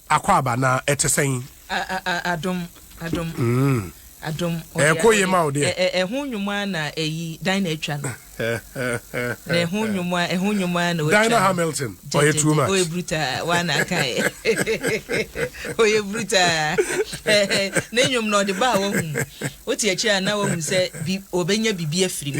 Akwaaba na ɛte sɛn? Adom, adom, adom. Ɛkɔ yie ma wo deɛ. Ɛho nnwom ara na ɛyi Dinah atwa no. Na ɛho nnwom ara ɛho nnwom ara na ɔtwa no. Dinah Hamilton ɔyɛ too much. Ɔyɛ brutal wa na aka yɛ. Ɔyɛ brutal. Ne nnwom na ɔde baa wɔn mu. Wote akyire a na wɔn mu sɛ bi ɔbɛnya bibi afiri mu.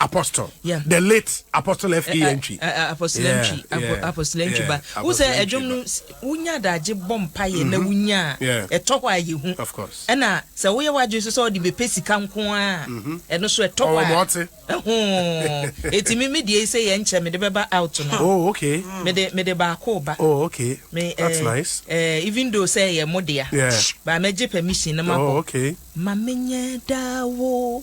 apostle yeah. the late apostle F.A. Eh, eh, Antwi eh, apostle Antwi apostle Antwi ba wo sɛ ɛdwom no wonya adagye bɔ mpaeɛ na mhm. wonya ɛtɔ hɔ a yɛ hu ɛna sɛ woyɛ w'adwene so sɛ ɔde bɛpɛ sika nko a mhm. ɛno so ɛtɔ hɔ a ɛho ɛtumi me deɛ sɛ yɛ nkyɛ mede bɛba out no oh, okay. mede mede baako ba oh, okay. me, That's uh, nice. uh, even though sɛ yɛ mo dea yeah. ba mɛgye permission no mabɔ oh, okay. ma menyɛ daa wo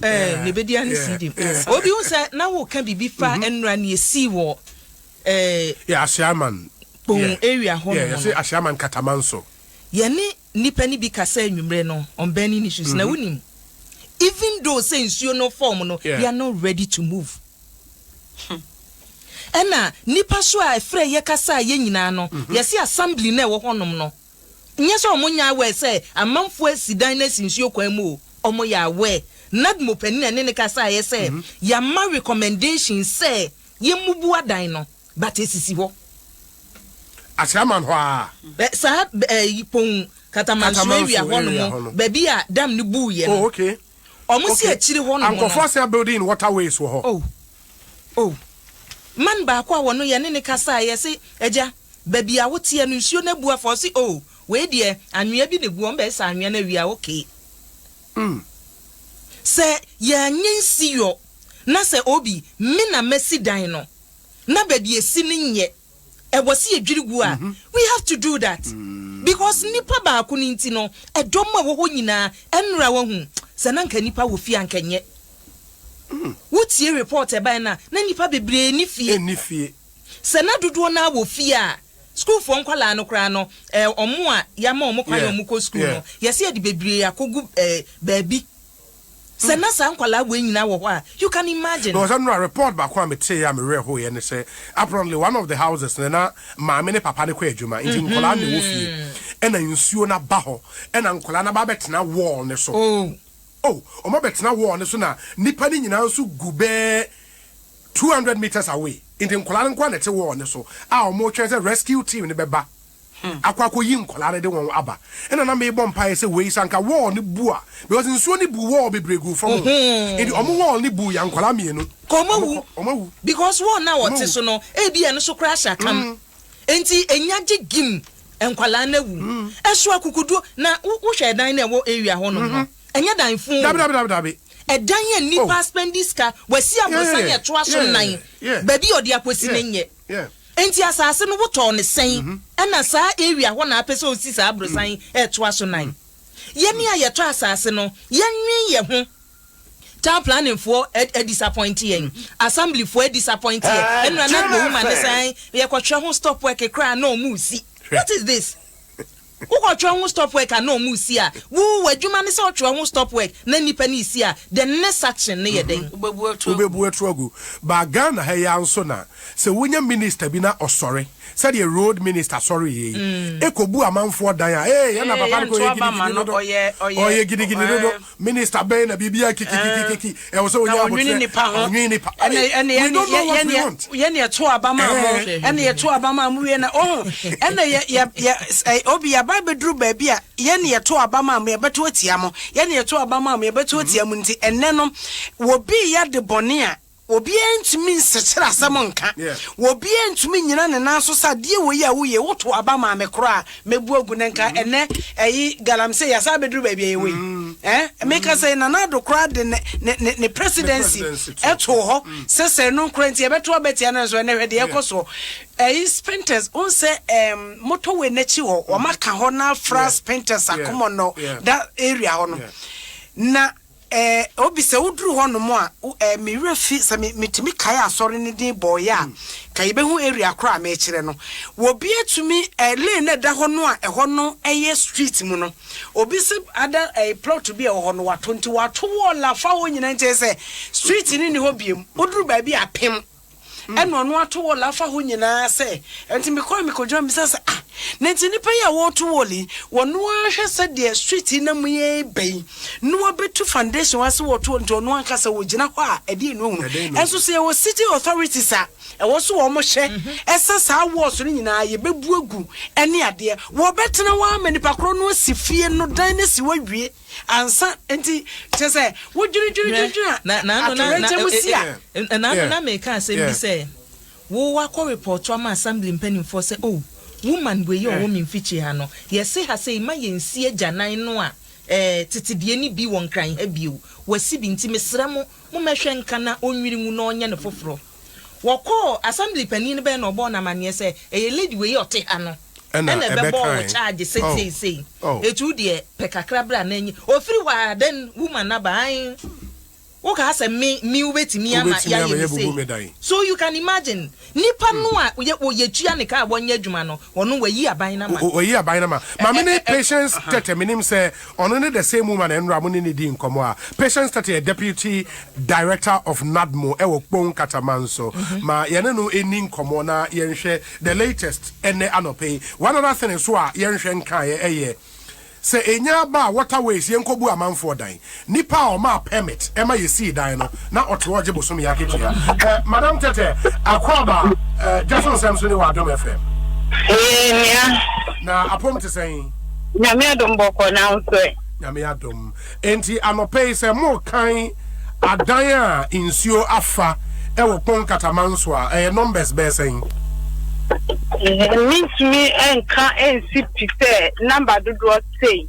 ɛɛ ne bɛdi ane sii dem obi hu sɛ na woka biribi fa mhm. nnura ne ɛsii wɔ ɛɛ ahyeaman kpon area hɔ nom no ahyeaman kataman so yɛne nnipa no bi kasa anwummerɛ no on burning issues na mhm. wonim even though sɛ nsuo no fam no we are not ready to move hmm. ɛna nnipa so a ɛfrɛ yɛ kasa a yɛ nyinaa no mhm. yɛse assembly no ɛwɔ hɔnom no Nyɛ sɛ ɔmo nyɛ aware sɛ amanfoɔ asi dan no asi nsuo kwan mu o, ɔmo yɛ aware. NADMO panin a ɛne no kasaeɛ sɛ, Yɛama recommendation sɛ yɛmmubu adan no, but ɛsisi hɔ. Aseaman hɔ ara. Ɛ, saa bɛ, ɛ, Yipon, Katamanso Katamanso area hɔ nom, area hɔ no. baabi a dam no buuiɛ no. Oh, okay. Ɔmo si Okay. akyire hɔ nom no. Ankorɔfoɔ asan building in waterways wɔ hɔ. Oh, oh. Man baako a wɔno yɛne no kasaeɛ se, Agya, Baabi a woteɛ no nsuo no abu afa ɔse oh wei deɛ anwea bi na egu wɔn bɛsa anwea no awie a okay. Mm. Sɛ yɛanyɛ nsi yɔ na sɛ obi me na mɛsi dan no na baabi esi no nyɛ ɛwɔ se yɛdwiri gu a we have to do that because nipa baako no nti no ɛdɔm a ɛwɔ hɔ nyinaa ɛnra wahu sɛ na nka nipa wɔ fie a nka nyɛ wotie report ɛbae no a na nipa bebree ni fie. Sɛ na dodoɔ no ara wɔ fie a, sukuufoɔ nkwadaa no koraa no, eh, wɔn a yɛama wɔn kwan yeah. wɔn kɔ sukuu yeah. no, yɛsɛ yɛde bebree akɔgu eh, baabi. Sɛ hmm. na saa nkwadaa wei nyinaa wɔ hɔ a, you can imagine. Na ɔsɛ nora report baako a metee a mewerɛ hoeɛ ne sɛ apparently one of the houses no na maame ne papa no kɔ adwuma nti mm-hmm. nkwadaa na ɛwɔ fie ɛna nsuo no aba hɔ ɛna nkwadaa no aba abɛtena wall no so. Oh. Oh, wɔn abɛtena wall no so na nipa no nyinaa nso gu bɛɛ Two hundred metres away nti nkwadaa no nkoa na ɛte wall no so a wɔretwɛn sɛ rescue team no bɛba akɔ akɔyi nkwadaa no de wɔn aba ɛna na mebɔ mpaeɛ sɛ wei sɛ anka wall no bu a because nsuo no buu wall bebree guu fam o nti wɔn wall no buu yɛ nkwadaa mmienu Kɔ wɔn awu wɔn wɔn awu because wall no a wɔn wɔte awu so no ebi ɛno so koraa hyɛ akam mm nti enya gye gim nkwadaa no awu mm ɛso akukuduo na wo wohwɛ ɛdan no a ɛwɔ area hɔnom no. Ɛnyɛ dan fun o. Dabi dabi dabi dabi. Ɛdan yɛ nnipa oh. spendi sika wasi aborosan yɛ ɛtoa so nan baabi ɔde akosi ne nyɛ nti asaase no wotɔɔ ne sɛn ɛna mm-hmm. saa area hɔ na apɛ sɛ osi saa aborosan mm-hmm. ɛtoa so nan mm-hmm. yɛne a yɛtɔ asaase no yɛnwen yɛ ho town planning foɔ ɛ disappoint yɛn assembly foɔ ɛ disappoint yɛn ɛnura na gbowuma ne sɛn yɛkɔtwerɛ ho stop work koraa na ɔmo si what is this. Wokɔ twerɛ ho stop work a na ɔmo resi a wo w'adwuma ne sɛ wotwerɛ ho stop work na nnipa no resi a the next action no yɛ dɛn? Wobɛbu aturo agu. But Ghana ha yi ara nso na sɛ wonya minister bi na ɔsɔre sɛdeɛ road minister sɔreeɛ yi kɔbu amanfoɔ dan a ee ɛna papa no kɔ yɛ gidigidi dodo ɔyɛ gidigidi dodo Minister bɛn na biribiara kikikikiki ɛwɔ sɛ ɔnya abotrɛ nipa ho ɔnwene nipa ɛnna we don't know what we want yɛn yɛ to aba maa mo ɛnna yɛ to aba maa mo wie na ɔho ɛnna yɛ yɛ yɛ obi yaba abɛduru baabi a yɛn yɛ to aba maa mo yɛbɛto atia mo yɛn yɛ to aba maa mo yɛbɛto atia mo nti ɛnɛ no wɔbi yɛ de bɔne a Obiara ntumi nsekyere asɛm nka. Obiara ntumi nnyina ne nan so sɛ adeɛ wei a woyɛ yi, woto aba maa me koraa a, mɛbu agu na nka ɛnnɛ ɛyi galamsey yɛasan abɛduru baabi a yɛwɔ yi. Ɛɛ, meka sɛ Nana Addo koraa de ne, ne, ne, ne presidency too hɔ sɛ sɛ ɛno nkoraa nti yɛbɛto aba atia no nso, ɛnnɛ hwɛ deɛ ɛrekɔ soɔ. Ɛyi Spintex, wohu sɛ ɛɛm, motorway no akyi hɔ, wɔaka hɔ na afra Spintex Akomɔnnɔ, that area hɔ no. Na. Eh, Obi, sɛ woduru hɔnom a, wo eh, me werɛ fi sɛ me, metumi kae asɔre no din bɔeɛ a, nka yɛbɛhu area korɔ a merekyerɛ no. Obi atumi eh, lane no a ɛda hɔ no a ɛhɔ no yɛ street mu no, obi se ada eh, plot bi a ɛwɔ hɔ no, wato, nti wato wall afa hɔ nyinaa nti ɛyɛ sɛ street no nni hɔ biom, woduru baabi a, pem. ɛna ɔno ato wɔl afa hɔ nyinaa sɛ ɛnti mekɔɛ mekɔgyina misa sɛ ah na ɛnti nipa yi a wɔto wɔl yi wɔno ahwɛ sɛ deɛ street yi na mu yɛ bɛ yi na wɔbɛtu foundation wa sɛ wɔto wɔl nti ɔno anka sɛ wɔgyina hɔ a ɛdeɛ no ahunu ɛnso sɛ yɛwɔ city authorities a ɛwɔ so wɔn hyɛ ɛsɛ saa wɔls no nyinaa yɛbɛbu agu ɛne adeɛ wɔbɛtena wɔama nipa korɔ no asi fie no dan no si wɔawie Ansa nti kyerɛ sɛ wodwiridwiridwiri atoyerɛnkyɛm mu si a. Ɛnaano na meka asɛm bi sɛ wo wakɔ repɔɔto ama assembly mpanimfoɔ sɛ oh woman wei a ɔwɔ me mfikyi ha no yɛse ha sei mma yɛnsi agyanan no a eh tete deɛ no bi wɔ nkran ha bio wasi bi nti mesrɛ mo mommɛhwɛ nka na ɔnnwiri ngu na ɔnyɛ no foforɔ. Wɔkɔɔ assembly panin no bɛn na ɔbɔɔ no amaneɛ sɛ ɛyɛ lady wei a ɔte ha no ɛna ɛbɛbɔɔ wo charge sɛsei sei. Ɛti wo deɛ pɛ kakra bra na nye. Ɔfiri hɔ a then woman no aba ae wo kaa sɛ me me wobɛtumi ama yɛayɛ me sei. So you can imagine nipa no a yɛtua ne kaa wɔnyɛ adwuma no ɔno wayi aban no ama no. Wayi aban no ama. Maame no Patience Tɛtɛ menim sɛ Ɔno ne the same woman a nnora mo ne no dii nkɔmmɔ a Patience Tetteh yɛ Deputy Director of NADMO wɔ Kpong Kata man so. Ma yɛne no nni nkɔmmɔ na yɛnhwɛ the latest ɛnnɛ anɔpa yi. One other thing nso a yɛnhwɛ nkaeɛ ɛyɛ sɛ ɛnya ba a water ways yɛnkɔbu amanfoɔ dan. Nnipa a ɔmaa permit ma yɛsii dan no na ɔte hɔ gye bosome akatua. Eh, Madam Tɛtɛ, Akwaaba, eh, gya so nsɛm so ne wɔ Adom FM. Ee, nua. Na apom te sɛn? Nyame adom bɔkɔ na wo nso ɛ? Nyame adom. Enti anɔpɛ yi sɛ morekan adan a nsuo afa wɔ Kpong Kataman so a, ɛyɛ numbers bɛyɛ sɛn? Mentumi nka nsi pi sɛ number dodoɔ sei.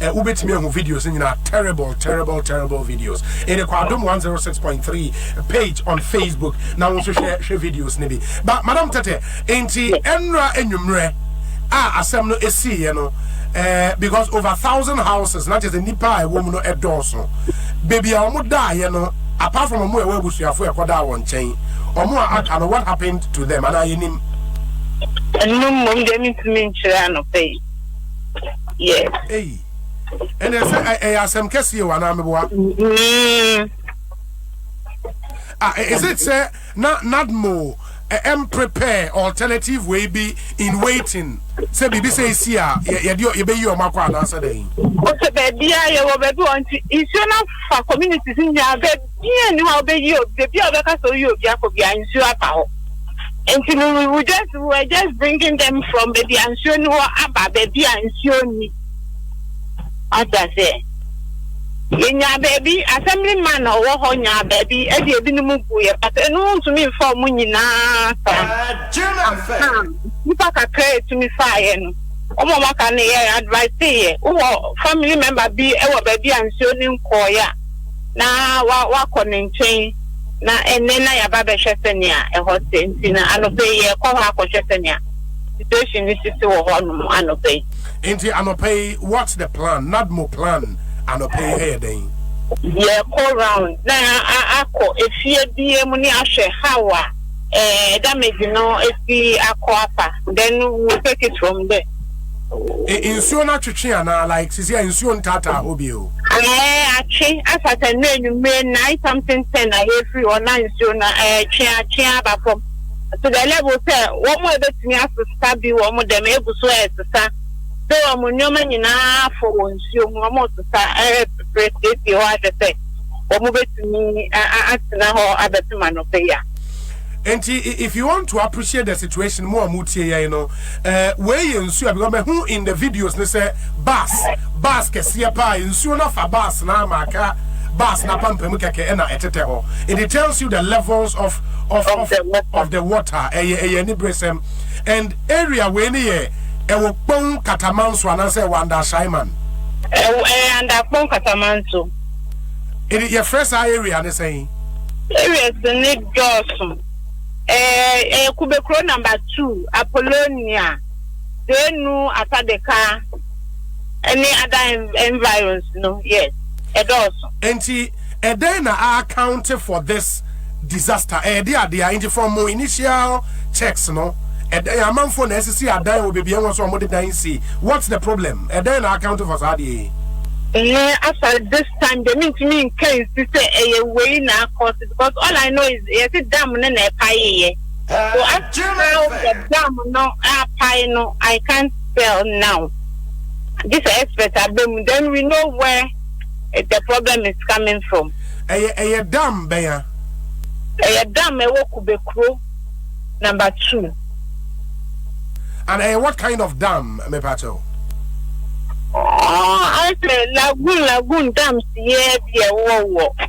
Eh, wobɛtumi ahu videos nyinaa terrible terrible terrible videos ɛde kɔ adom 106.3 page on facebook na wo nso hwɛ hwɛ videos no bi ba madam tɛtɛ enti ɛnora anwummerɛ a asɛm no ɛsiiɛ no eh, because over thousand houses na kyɛ sɛ nnipa a ɛwɔ mu no ɛdɔɔso baabi a wɔn daeɛ no apart from wɔn a ɛwɔ abusuafo ɛkɔdaa wɔn nkyɛn wɔn a aka no what happened to them anaa yɛnim ɛno mmom deɛ mentumi nkyerɛ anɔpɛ yi Yes. Eyi. Ɛnna ɛsɛ ɛ- ɛyɛ asɛm kɛseɛ o anaa meboa? Mm. Ah, ɛ- is it sɛ na nadmo ɛ- ɛm prepare alternative wei bi in waiting sɛ biribi sɛ ɛsi a yɛ- yɛde ɔ- yɛbɛyi ɔmo akɔ anaasɛ dɛn? Ɔsɛ baabi a yɛwɔ baabi wɔ nti nsuo no afa communities nyinaa bɛ Obiara nni hɔ a ɔbɛyi obi, baabi a ɔbɛka sɛ ɔyi obi akɔ biara nsuo aba hɔ. Nti no we will just, we were just bringing them from baabi a nsuo nni hɔ aba baabi a nsuo nni. Wate aseɛ? Yɛnyaa baabi, assembly man a ɔwɔ hɔ nyaa baabi de ebinom guiɛ, but ɛno wontumi mfa wɔn nyinaa saa. Aha, nnipa kakra a ɛtumi faeɛ no, wɔn a wɔaka no yɛ adviseeɛ. Wowɔ family member bi wɔ baabi a nsuo no nkɔeɛ a, na wa wakɔ ne nkyɛn na ɛnɛ na yaba bɛhwɛ sɛnea ɛhɔ te nti na anɔpɛ yi yɛkɔ hɔ akɔhwɛ sɛnea situation ne sisi wɔ hɔ nom anɔpɛ yi. Nti anɔpɛ yi what's the plan nadmo plan anɔpɛ yi ɛyɛ dɛn. Yɛkɔ round na a akɔ efie bia mu ne ahwɛ how a ɛɛ damage no esi akɔ afa then we will take it from there. Nsuo no atwetwe anaa like sisi a nsuo ntaataa hɔ bio. Ɛɛ atwe afa sɛ nnɛ anwummere nine something ten na yɛrefiri hɔ na nsuo no ɛretwe atwe aba fam to the level sɛ wɔn a ɛbɛtumi asesa bi wɔ wɔn dɛm ɛgu so ɛresesa sɛ wɔn nneɛma nyinaa afɔ wɔ nsuo mu wɔresesa ɛrepepere siesie hɔ ahwɛ sɛ wɔn bɛtumi atena hɔ abɛpem anɔpa yi a. Nti if you want to appreciate the situation mo a mo tie yɛn no eh, wei yɛ nsuo a because mahu in the videos ne sɛ bus bus kɛseɛ paa nsuo no afa bus na ama aka bus na pampamu kɛkɛ ɛna ɛtetɛ hɔ it tells you the levels of of of, of the water ɛyɛ ɛyɛ ani beresɛm and area wei ne yɛ ɛwɔ kpɔn katamanso anaasɛ ɛwɔ anda shaiman ɛyɛ anda kpɔn katamanso yɛfrɛ saa area ne sɛn area sɛ ne dɔɔso. Ɛɛ, ɛyɛ kube kuro namba tuu, Apollonia, Zeenu, Atadeka ne ada environs no, yes, ɛdɔɔso. Nti ɛdɛn na a accounte for this disaster? Ɛyɛ de adeɛ a, nti from mo initial checks no, ɛdɛn, amanfoɔ na asisi adan wɔ baabi a ɛwɔ sɛ wɔn de dan si, what's the problem? Ɛdɛn na a accounte for saa adeɛ yi? Ɛɛ, asa this time deɛ mentumi nka nsi sɛ ɛyɛ wei na a cause. Because all I know is yɛse dam no na ɛpaee yɛ so as to how the dam no apae no I can't tell now gye sɛ expert aba mu then we know where the problem is coming from. Ɛyɛ ɛyɛ dam bɛn a? Ɛyɛ dam ɛwɔ Kube kuro number two. And ɛyɛ what kind of dam mepa kyɛw? Ɔɔ ayɛ sɛ lagoon lagoon dams yɛ bi ɛwɔ wɔ.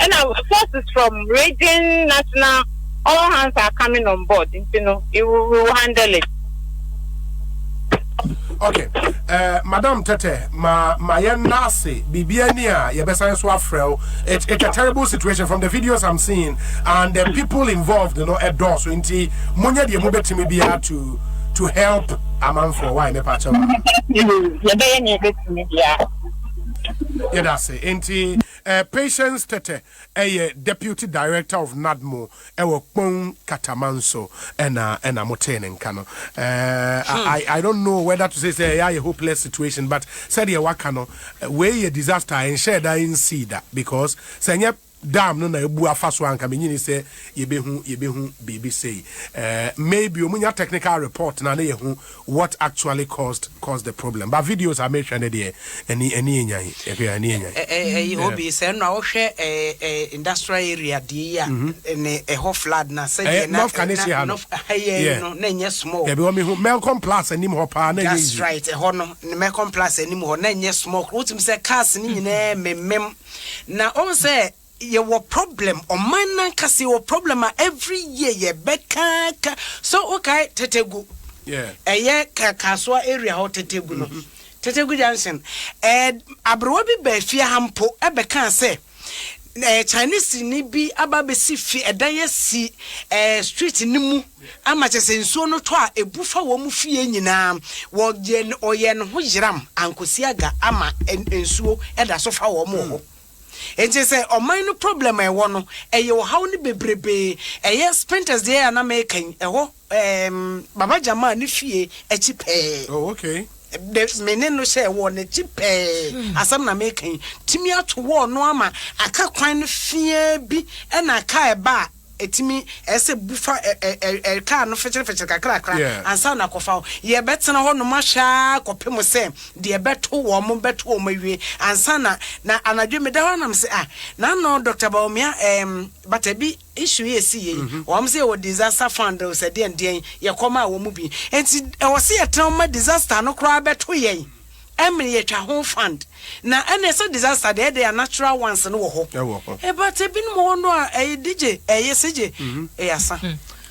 Ɛna forces from region national all hands are coming on board nti no we will handle it. Okay, uh, Madam Tete, ma ma yenase bibia ni a yebesan so afrel. It's it's a terrible situation from the videos I'm seeing and the people involved, you know, adore so inti munya die mo betimi bia to to help amanfo why me pacha. Yebeye ni betimi bia. Yedase inti Patience Tete yɛ Deputy Director of NADMO wɔ Kpong Katamanso na na mo tee ne nka no. I don't know whether to say sɛ ɛyɛ ayɛ hopeless situation but sɛdeɛ waka no wei yɛ disaster a ɛnhyɛɛ da ɛnsii da because sɛ nyɛ dam no na abu afa so a nka menyini sɛ yɛbɛhu yɛbɛhu biribi sei. Maybe wɔnya technical report no a na yɛhu what actually caused caused the problem but videos a mehwɛ no deɛ ani ani yɛ nyan ɛhwɛ ani yɛ nyan. Ɛyi obi sɛ ɛno a wohwɛ ɛɛ industrial area deɛ yi a ne ɛhɔ flood na sɛdeɛ na na na ha yɛ no na nyɛ small. Dabi wɔn mi ho Melcom Plus anim hɔ paa na nyɛ yiye. That's right ɛhɔ no ne Melcom Plus anim hɔ na nyɛ small wotumi sɛ cars ne nyinaa memem na wɔn sɛ Yɛwɔ problem, ɔman no ankasa yɛwɔ problem a every year yɛbɛkaaka. So wokae Tetegu, ɛyɛ Kasoa area hɔ Tetegu no, Tetegu junction, aberewa bi baa fie ha mpo bɛkaa sɛ Chinese ni bi aba abɛsi fie, ɛdan asi street no mu ama kyerɛ sɛ nsuo no tɔ a ɛbu fa wɔn fie nyinaa. Wɔyɛ ne ho yeram ankɔsi aga ama nsuo da so fa wɔn wɔ hɔ. Enti sɛ ɔman no problem a ɛwɔ no ɛyɛ ɔhaw no bebrebee ɛyɛ Spintex deɛ a na meka yi ɛhɔ ɛɛm Baba Jamaa ne fie akyi pɛɛ. Oh okay. Dɛ me ne no hyɛɛ wall no akyi pɛɛ asɛm na meka yi. Tumi ato wall no ama aka kwan no feaa bi ɛna aka ɛba a Ɛtumi ɛyɛ sɛ bu fa car no fɛkyerɛfɛkyerɛ kakrakra ansa na akɔfa wo. Yɛbɛtena hɔ nom ahwɛ ara kɔpem sɛ deɛ ɛbɛto wɔn no bɛto wɔn awie ansa na na anadwo yi meda hɔ ara na mese ah na ano Doctor Bawumia ɛɛm but ɛbi issue yi ɛsi yei wɔn sɛ yɛwɔ disaster fund sɛ deɛn deɛn yɛkɔmaa wɔn bi nti ɛwɔ sɛ yɛtena hɔ ma disaster no koraa bɛto yɛn. Emily yɛtwa ho fund na ɛnɛ sɛ disaster deɛ ɛdeɛ a natural ones no wɔ hɔ but ebinom wɔ hɔ no a ɛyɛ digye ɛyɛ sigye ɛyɛ asa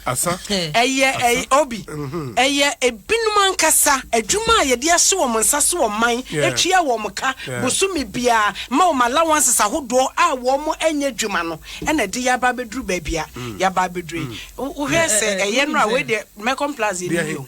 asa ɛyɛ ɛyɛ obi ɛyɛ ebinom ankasa adwuma a yɛde ahyɛ wɔn nsa so wɔ man atua wɔn ka bosome biara ma wɔn allowances ahodoɔ a wɔn ɛnyɛ adwuma no ɛna ɛde yɛ aba abɛduru baabi a yɛaba abɛduru yi wohwɛ sɛ ɛyɛ no a wei deɛ Mekon Plaza yi ni o.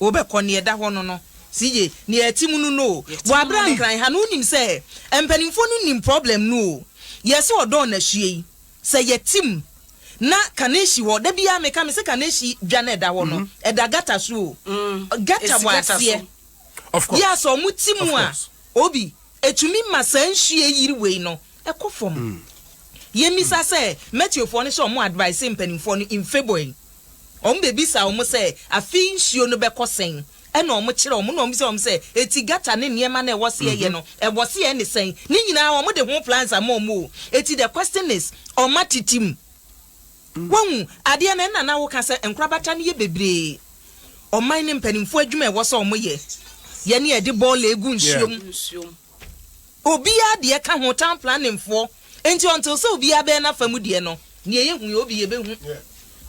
Wobɛkɔ nea ɛda hɔ no no se ye nea ɛte mu no no o. Bɔ abira nkran ha no wonim sɛ mpanimfoɔ no nim problem no o. Yɛse ɔdɔɔ na hwie yi sɛ yɛte mu na kane hyi hɔ da biara meka mese kane hyi dwa no ɛda hɔ no ɛda gutter so o. Gutter bɔ aseɛ yɛ a sɛ ɔmo te mu a obi ɛtumi ma saa nhwie yiri wei no ɛkɔ fam. Yɛmmisa sɛ Metiofoɔ no sɛ ɔmo advise mpanimfoɔ no in favour yi. Wɔbebisa wɔn sɛ, Afei nsuo no bɛkɔ sɛn? Ɛna wɔkyerɛ wɔn, na wɔbisa wɔn sɛ, Eti gata ne nneɛma no a ɛwɔ seɛ yɛ no, ɛwɔ seɛ ne sɛn? Ne nyinaa wɔde ho plans ama wɔn o. Eti the question is, wɔn atete mu. Wahu? Adeɛ no, ɛna na woka sɛ nkorabata no yɛ bebree. Ɔman no mpanimfoɔ adwuma a ɛwɔ sɛ wɔyɛ, yɛ ne yɛde bɔɔla gu nsuo mu. Obiaa deɛ ka ho town planning foɔ nti until sɛ obiaa bɛyɛ nafa mu deɛ no deɛ yɛ hu yɛ obi yɛ bɛ hu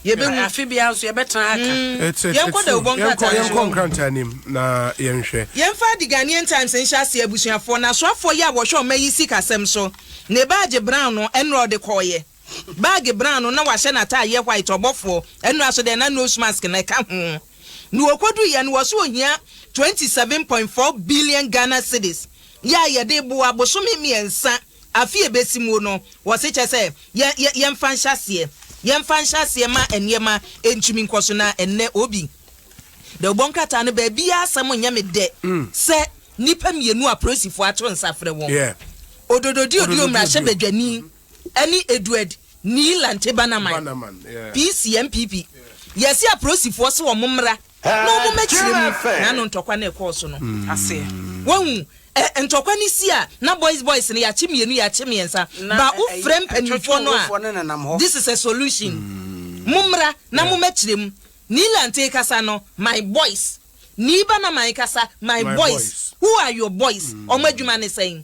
yɛ bɛ hu. Afe biaa nso yɛ bɛ tena ha ka. It's it's yɛnkɔ true dawubɔ nkrataa no so yɛnkɔ wɔn. nkrataa no mu na yɛnhwɛ. Yɛmfa The Ghanaian Times nhyɛ aseɛ abusuafoɔ, na asoafoɔ yi a wɔhwɛ ɔma yi sikasɛm so na ɛbaa gye Brown no ɛnora ɔde kɔɔeɛ. Bag brown no na wahyɛ n'ataadeɛ white ɔbɔfoɔ ɛno aso dɛn na nose mask na ɛka ho na ɔkɔduiɛ no wɔse ɔhia twenty seven point four billion Ghana cedis yɛ a yɛde boa bosome mmiɛnsa afe a ɛbɛsi muo no wɔse kyɛ sɛ yɛ yɛ yɛmfa nhyɛ aseɛ yɛmfa nhyɛ aseɛ ma nneɛma ɛntumi nkɔso na ɛnnɛ obi dɛ ɔbɔ nkrataa no baabiaa asɛm nyɛ me dɛ sɛ nnipa mmienu a polisifoɔ ato nsa frɛ wɔn Ododo Diodio mmarahyɛbadwani ɛne Edward Nii Lantebanamai, PCMPP, yɛse aporosifoɔ se wɔn mmra na wɔn mɛkyerɛ mu n'ano ntɔkwa no ɛkɔɔ so no aseɛ. Wahu? Ɛ, ntɔkwa no si a, na boys boys no yɛakye mmienu, yɛakye mmiɛnsa, ba wo frɛ mpanimfoɔ no a, this is a solution, mo mmra na mo mɛkyerɛ mu. Nii Lantee kasa no, my boys, Nii Banamai kasa, my boys, who are your boys, wɔn adwuma ne sɛn?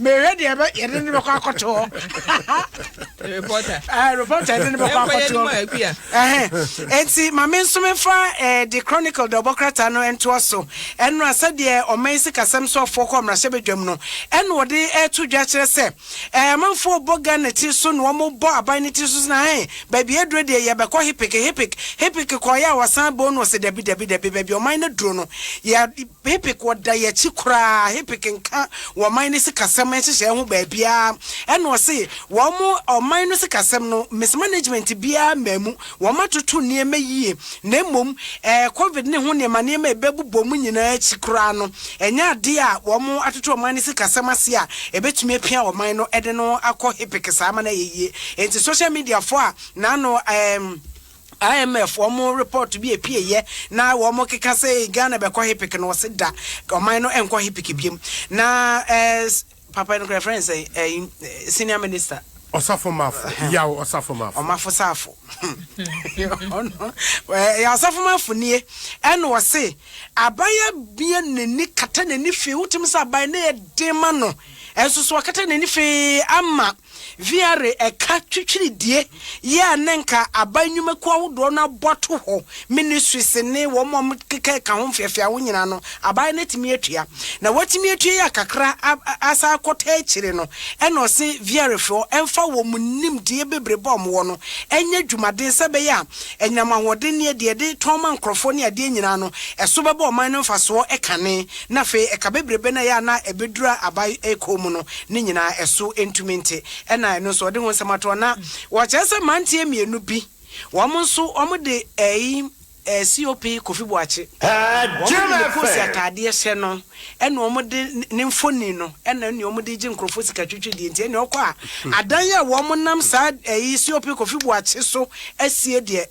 mehwɛ deɛ ɛbɛ yɛde ne bɛkɔ akɔto hɔ reporter yɛde ne bɛkɔ akɔto hɔ nti ma me nso mefa de eh, chronicle de ɔbɔkrata no ntoa so ɛno a sɛdeɛ ɔman sikasɛm so afoɔ kɔ mmarahyɛ badwam no ɛna wɔde ɛto dwa kyerɛ sɛ eh, amanfoɔ bɔ ghana ti so na wɔbɔ aban no ti so na hɛn baabi aduro deɛ yɛbɛkɔ hepik hepik hepik kɔɔyɛ a wɔsan bɔ no ɔsɛ dabi dabi dabi baabi ɔman no duro no yɛ Hipik wɔ da yɛ akyi koraa Hipik nka wɔman no sikasɛm nhyehyɛɛ ho baabiaa ɛna ɔse wɔn ɔman no sikasɛm no mis management biaa mmaa mu wɔn atoto nneɛma yie na mmom ɛɛ covid ne ho nneɛma nneɛma ɛbɛbobɔ mu nyinaa akyi koraa no ɛnyɛ adeɛ a wɔn atoto ɔman no sikasɛm ase a ɛbɛtumi apia ɔman no ɛde no akɔ Hipik saa ama no ayɛ yie enti social media foɔ a naano ɛɛ IMF wɔn report bi a ɛpueeɛ na wɔn keka sɛ Ghana bɛkɔ HIPC no wɔse da ɔman no nkɔ HIPC biom na ɛɛ papa no kura fɛn sɛ ɛɛ senior minister ɔsafo mafo yaw ɔsafo mafo ɔmafo safo ɔno ɛɛ ɔsafo mafo nie ɛna wɔse aban abia n'ani kata n'ani fee wotum sɛ aban ne yɛ den ma no ɛnso so ɔkata n'ani fee ama Viare ɛka twitwiridie yɛ a ne nka aban nnwumakuo ahodoɔ no abɔ to hɔ, ministries ne wɔn a wɔkeka ɛka ho mfeafea ho nyinaa no aban no atumi atua. Na wɔatumi atua yɛ a kakra asan akɔ taa akyire no ɛna ɔse Viarefoɔ mfa wɔn nimdeɛ bebrebe a wɔwɔ no nyɛ dwumaden sɛ ɛbɛyɛ a anyinam ahoɔdenneɛ, deɛ yɛde tɔn ma nkorɔfoɔ ne adeɛ nyinaa no ɛso bɛba ɔman no mfasoɔ kane. na afei ɛka bebrebe no a ɛyɛ a na ɛbɛdura abae kɔn mu no ne nyinaa ɛso ntumi nte, ɛna ɛno nso wɔde ho nsɛm ato hɔ. Na wɔkyerɛ sɛ mmeranteɛ mmienu bi, wɔn nso wɔde ɛyi COP Kofi Boakye, wɔde ne Kosi ataadeɛ hyɛ no ɛna wɔde ne mfonin no ɛna ɛne wɔde regye nkurɔfoɔ sika twitwi deɛ nti ɛne ɔkɔ a adan a wɔnam saa ɛyi COP Kofi Boakye so asie deɛ,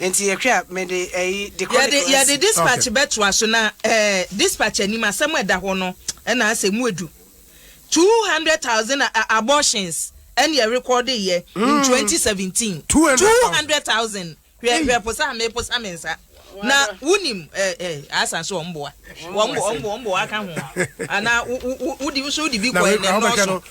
Nti yɛhwɛ a, mede ɛyi de kɔ ne class. Yɛde dispatch bɛtoa so na ɛɛ dispatch anim asɛm a ɛda hɔ no ɛna asɛ mu edu two hundred thousand abortions ɛna yɛ record yɛ in twenty seventeen two hundred thousand hwɛ hwɛ posa a me posa me nsa na wunim ɛɛ ɛɛ asan so wɔn boa wɔn bo wɔn bo wɔn bo aka ho ana wo wo wo di nso di bi kɔ ɛna ɛnɔɔso.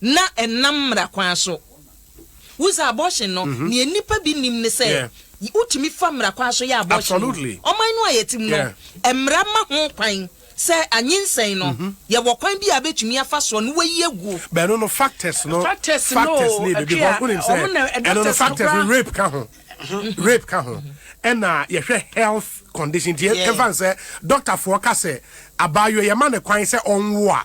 na ɛnam mmara kwan so. Wohu sɛ abortion no, nea nnipa bi nnim ne sɛ, wotumi fa mmara kwan so yɛ abortion o. Ɔman no a yɛte mu no, mmara ma ho kwan sɛ anyinsɛn no, yɛwɔ kwan bi a yɛbɛtumi afa so na wɔayi agu. Ɛno no factors no, factors no o, because wonim sɛ, ɛno no factors no, rape ka ho, rape ka ho, ɛna yɛhwɛ health condition, nti yɛmfa no sɛ, doctorfoɔ ka sɛ, abaayewa yɛma no kwan sɛ ɔnwo a,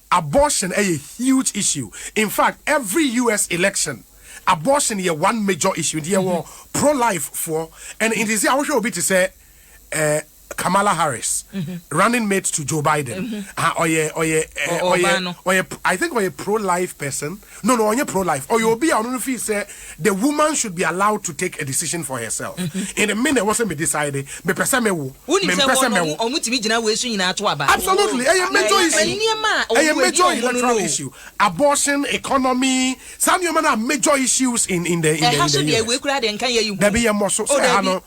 Abortion ɛyɛ huge issue infact every US election abortion yɛ one major issue nti yɛwɔ pro life foɔ and nti sɛ wohwɛ obi te sɛ Kamala Harris running mate to Joe Biden ɔyɛ ɔyɛ ɔyɛ ɔyɛ I think ɔyɛ pro life person. No no ɔnyɛ pro life ɔyɛ obi a ɔno no feel sɛ the woman should be allowed to take a decision for herself in me na ɛwɔ sɛ me decide mepɛ sɛ me wo me mpɛ sɛ mɛ wo. Absolutely ɛyɛ major issue ɛyɛ major electoral issue abortion economy saa nneɛma no are major issues in in the in the in the US dabi yɛ mmɔ so sɛ ɛha no.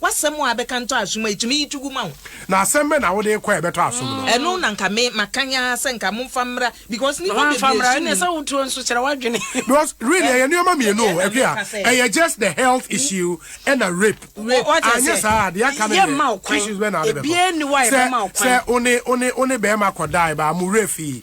W'asɛm a abɛka ntɔ asom a etumi yi to gu ma wo. Na asɛm bɛn na wode kɔ a ɛbɛtɔ asom no? Ɛno na nka me makan ara sɛ nka momfa mmra because nnipa bebree sum yi. Because really ɛyɛ nneɛma mmienu o Akua, ɛyɛ just the health issue ɛna rape. Anyɛ saa a deɛ aka no deɛ issues bɛn na ade bɛkɔ? Sɛ sɛ one one one bɛrima kɔdae baa mo werɛ fii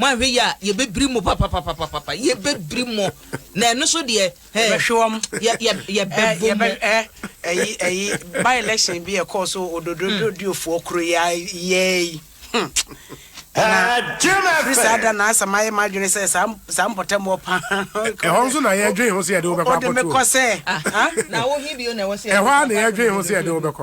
moanhwɛ yie a yɛbɛbiri mo papapapapapa yɛbɛbiri mo na ɛno so deɛ hɛ yɛbɛhwe wɔn yɛ yɛ yɛbɛbo mo ɛyi ɛyi by election bi ɛkɔɔ so ododododiofoɔ kuro yɛ yɛɛyi firi saa da na asɛm ayɛ m'adwene sɛ saa saa mpɔtam wɔ pa ɛhɔ nso na yɛdwen ho sɛ yɛde wobɛkɔ akɔtoɔ wode mekɔ sɛ na wohe bio na ɛwɔ sɛ ɛhɔ a na yɛdwen ho sɛ yɛde wobɛkɔ